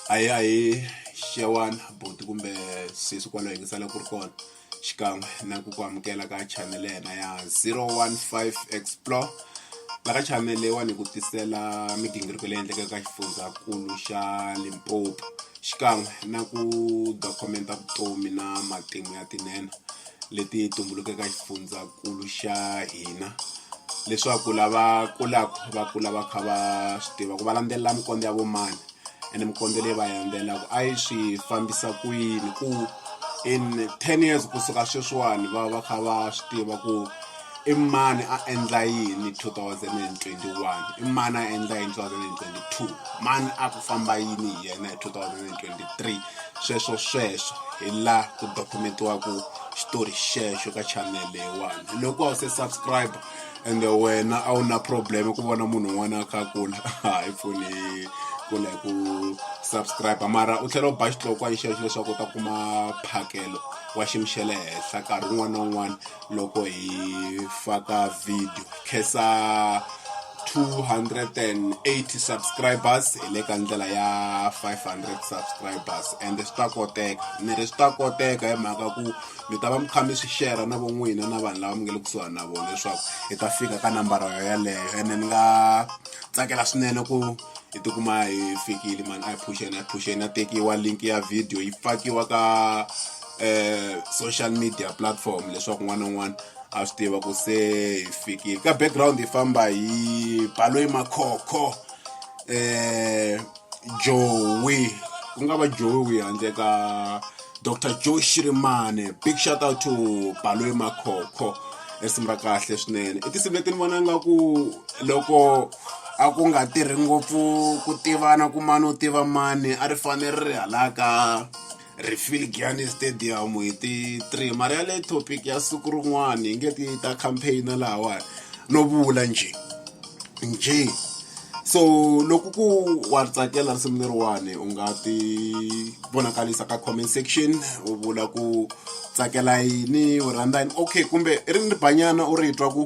a hi a hi xewani buti kumbe sesi kwalo hi ngisala ku ri kona xikan'we na ku ku amukela ka chanele yena ya 015 explore laka chanele leyiwani hi ku tisela migingiriko leyi endleka ka xifundzankulu xa limpopo xikan'we na ku dokumenta vutomi na matimu ya tinene leti tumbulukeke xifundzankulu xa hina leswaku lava kulaka va kula va kha va swi tiva ku va landzelela minkondzo ya vo mani ene minkondzo leyi va landzelelaka a yi swi fambisa ku yini ku in ten years kusuka sweswiwani va va kha va swi tiva ku I mani a endla yini 2021? I mani a endla yini 2022? Mani a ku famba yini hi yena hi 2023? Sweswo sweswo hi la ku dokumentiwaka xitori xexo ka channel leyiwani loko a wu se subscribe and wena a wu na problem ku vona munhu un'wana a kha a kula hayi foni kula hi ku subscribe mara u tlhela u ba xitlokwa hi xexo leswaku u ta kuma phakelo wa xiyimo xa le henhla nkarhi wun'wana na wun'wana loko hi faka video khensa 280 subscribers hi le ka ndlela ya 500 subscribers and swi ta koteka ni ri swi ta koteka hi mhaka ku mi ta va mi kha mi swi shera na von'wina na vanhu lava mi nge le kusuhani na vona leswaku hi ta fika ka nambara yo yeleyo ene ni nga tsakela swinene ku hi tikuma hi fikile mani a hi phuxeni a hi phuxeni a tekiwa link ya video yi fakiwa ka eh, social media platform leswaku n'wana un'wana a swi tiva ku se hi fikile ka background hi famba hi baloyi makhokho eh jowi ku nga va jowi handle ka dr joe shirimane big shout out to baloyi makhokho risimu ra kahle swinene i tinsimu leti ni vona nga ku loko a ku nga tirhi ngopfu ku tivana ku mani u tiva mani a ri fanele ri ri halaka refill giani stadium hi ti 3 mara ya le topic ya siku rin'wana hi nge ti ta campaign lahawani no vula nje nje so loko ku wa tsakela risimu leriwani u nga ti vonakalisa ka comment section u vula ku tsakela yini u rhandza yini okay kumbe ri ni banyana u ri twa ku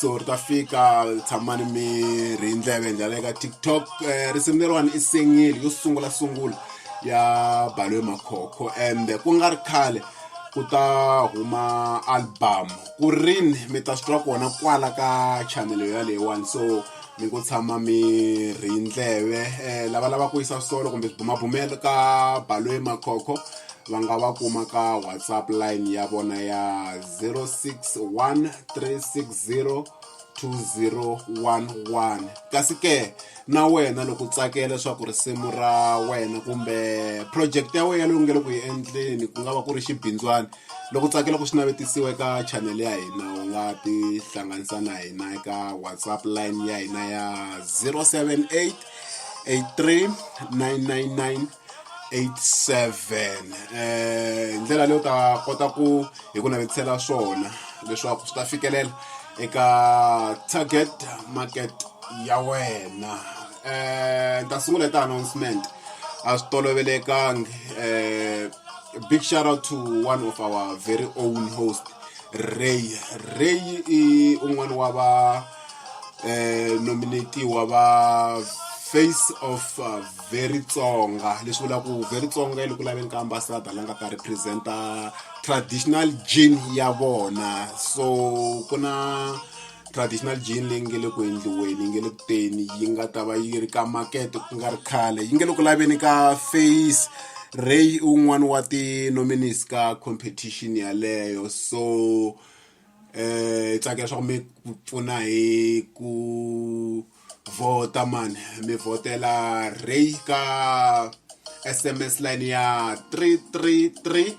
so ri ta fika tshamani mi ri hi ndleve hi ndlela eka tiktok um risimu leriwani i sengile yo sungula sungula ya balwe makhokho and ku nga ri khale ku ta huma album ku rini mi ta swi twa kona kwala ka chanele ya leyiwani so mi ku tshama mi ri ndleve um lava lava ku yisa solo kumbe swibumabumelo ka balwe makhokho va nga va kuma ka whatsapp line ya vona ya 061360 2011 kasi ke na wena loko tsakela leswaku risimu ra wena kumbe project ya wena leyi u nge le ku yi endleni ku nga va ku ri xibindzwana loko tsakela ku xi navetisiwa eka channel ya hina u nga tihlanganisa na hina eka whatsapp line ya hina ya 078 83 999 87 eh ndlela leyo ta kota ku hi ku navetisela swona leswaku swi ta fikelela eka target market ya wena eh ta sungula ta announcement a swi tolovelekangi eh big shout out to one of our very own host Ray Ray i un'wana wa va eh nominatiwa va face of uh, very tsonga leswi vula ku very tsonga yi ku laveni ka ambassador la nga ta representa traditional gene ya vona so ku na traditional gene leyi nge le ku endliweni yi nge le ku teni yi nga ta va yi ri ka makete ku nga ri khale yi nge le ku laveni ka face ray un'wana wa ti-nominees ka competition yaleyo so hi tsakela swa ku mi pfuna hi ku vhota mani mi vhotela Rey ka S_M_S line ya three three three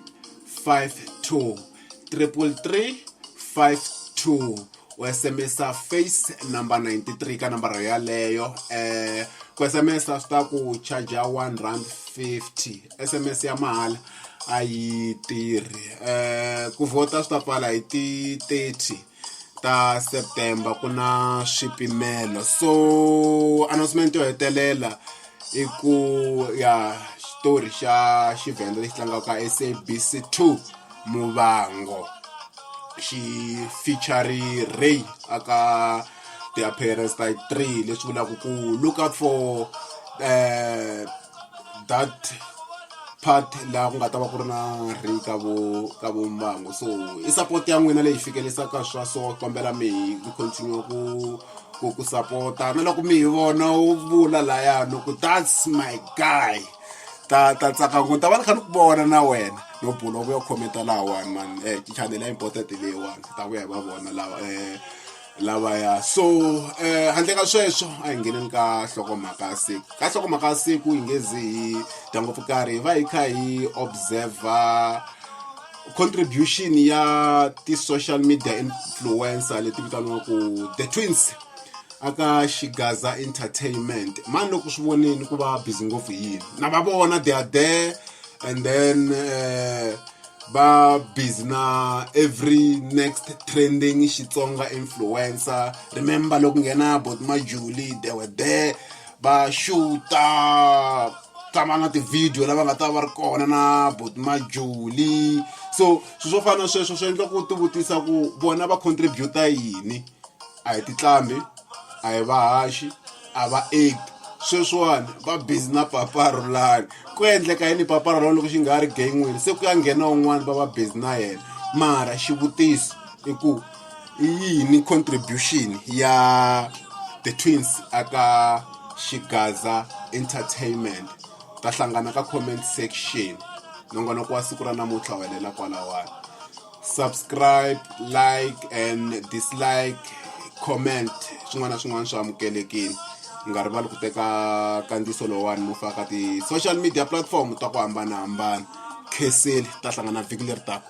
five two triple three five two u S_M_S-a face number ninety three ka nambara yaleyo ku S_M_S-a swi ta ku charger one rand fifty sms ya mahala a yi tirhi um ku vhota swi ta pfala hi ti-thirty ta september ku na swipimelo so announcement yo hetelela i ku ya xitori xa xivhenda lexi tlangaka sabc 2 muvango xi featury ray aka ti-appearance ta three leswi vulaka ku look out for um that part laha ku nga ta va ku ri na ri ka vo ka vo mbango so i support ya n'wina leyi fikelisaka swa so kombela mi ku continue ku ku ku sapota na loko mi hi vona u vula layani ku that's my guy ta ta tsaka ngo ta va ni kha ni ku vona na wena no bula u vuya khometa lahawani mani um chanele ya important leyiwani ta vuya hi va vona lawa um lavaya so eh handle ka sweswo a hi ngheneni ka nhlokomhaka ya siku ka nhlokomhaka ya siku hi nge zi hi dya ngopfu karhi hi va hi kha hi observer contribution ya ti-social media influencer leti vitaniwaku the twins aka xigaza entertainment mani loko swi voneni ku va busy ngopfu hi yini na va vona they are there and then uh, va busy na every next trending xitsonga influencer remember loko nghena bot majuli they were there va xuta tshama na tivhidiyo lava nga ta va ri kona na bot majuli so swilo swo fana na sweswo swi endla ku tivutisa ku vona va contributa yini a hi titlambi a hi vahaxi a va act sweswiwani va busy na paparulani ku endleka yini paparulani loko xi nga ri gay n'wini se ku ya nghena un'wana va va busy na yena mara xivutiso i ku i yini contribution ya the twins aka xigaza entertainment ta hlangana ka comment section nongonoko wa siku ra namuntlha welela kwalawani subscribe like and dislike comment swin'wana na swin'wana swi amukelekile mi nga rivali ku teka kandziso lowani mo faka ti-social media platform ta ku hambanahambana kheseli ta hlangana vhiki leri taka